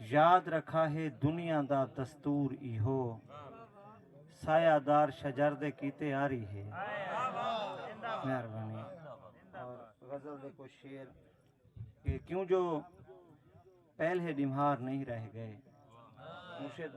یاد رکھا ہے دنیا دا دستور ایہو سایہ دار شجر دے کیتے آری ہے مہربانی اور غزل دے کو شیر کہ کیوں جو پہلے ڈمہار نہیں رہ گئے مرشد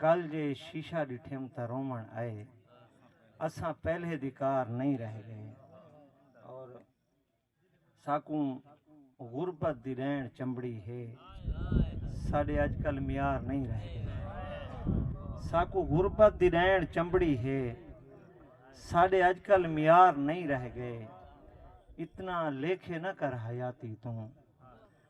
کل جے شیشہ ڈٹھیم تاں روون آئے اساں پہلے دی کار نئیں رہ گئے اور ساکوں غربت دی ڈینڑ چمبڑی ہے ساڈے اج کل معیار نئیں رہ گئے ساکوں غربت دی ڈینڑ چمبڑی ہے ساڈے اج کل معیار نئیں رہ گئے اتنا لیکھے نہ کر حیاتی توں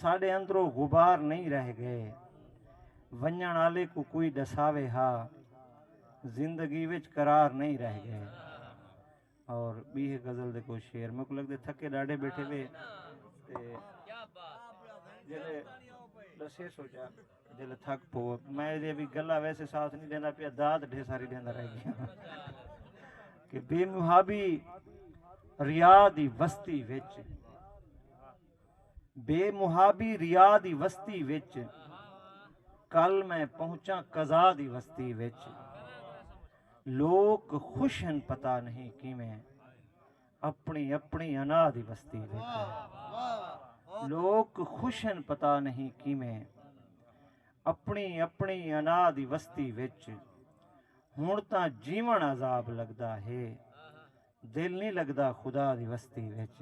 ساڈے اندروں غبار نئیں رہ گئے۔ ونجنڑ آلے کوں کوئی ڈساوے ہا۔ زندگی وچ قرار نئیں رہ گئے۔ اور بی ہے غزل دے کوئی شعر میکوں لگدے تھکے ڈاڈھے بیٹھے وے تے جلے ڈسے سوچا جلے تھک پو میں دے بھی گلا ویسے ساتھ نہیں دیندا پیا داد ڈھے ساری دیندا رہ گیا کہ بے محابی ریا دی وستی وچ بے محابی ریا دی وستی وچ کل میں پہنچا قضا دی وستی وچ لوک خوش ہیں پتا نہیں کی میں اپنی اپنی انا دی وستی وچ لوک خوش ہیں پتا نہیں کی میں اپنی اپنی انا دی وستی وچ ہن تاں جیون عذاب لگدا ہے دل نی لگدا خدا دی وستی وچ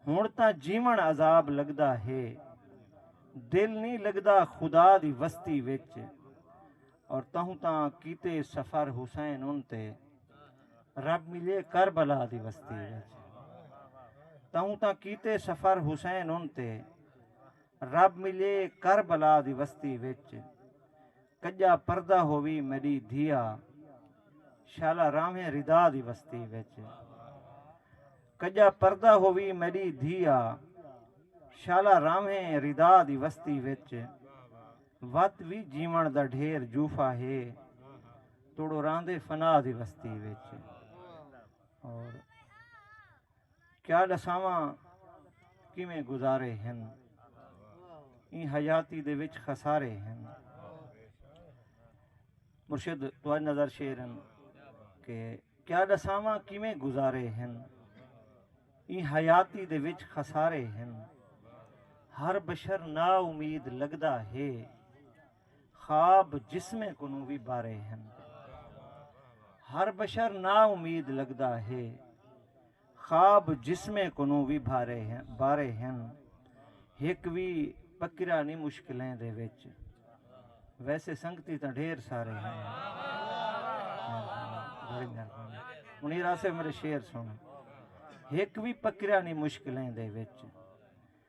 ہن تاں جیون عذاب لگدا ہے دل نی لگدا خدا دی وستی وچ اور تہوں تاں کیتے سفر حسین ان تے رب ملے کربلا دی وستی وچ تہوں تاں کیتے سفر حسین ان تے رب ملے کربلا دی وستی وچ کڄا پردہ ہووی میݙی دھیا شالا راہویں ردا دی وستی وچ کڄا پردہ ہووی میݙی دھیا شالا راہویں ردا دی وستی وچ وت وی جیوݨ دا ڈھیر جوفا ہے توڑو راہندے فنا دی وستی وچ اور کیا ڈساواں کیویں گزارے ہن ایں حیاتی دے وچ خسارے ہن مرشد تو اج نظر شیر ہن کہ کیا ڈساواں کیویں گزارے ہن ایں حیاتی دے وچ خسارے ہن ہر بشر نا امید لگدا ہے خواب جسمیں کنوں وی بارے ہن۔ ہر بشر نا امید لگدا ہے۔ خواب جسمیں کنوں وی بارے ہن۔ ہک وی پکرا نی مشکلیں دے وچ۔ ویسے سنگتی تاں ڈھیر سارے ہن۔ منیر آصف میرے شعر سن۔ ہک وی پکرا نی مشکلیں دے وچ۔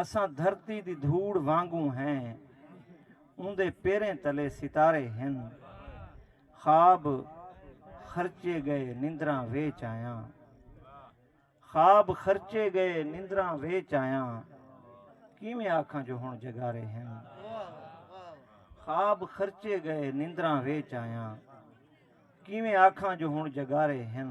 اساں دھرتی دی دھوڑ وانگوں ہیں اوندے پیریں تلے ستارے ہن خواب خرچے گئے نندراں ویچ آیاں خواب خرچے گئے نندراں ویچ آیاں کیویں آکھاں جو ہن جگارے ہن خواب خرچے گئے نندراں ویچ آیاں کیویں آکھاں جو ہن جگارے ہن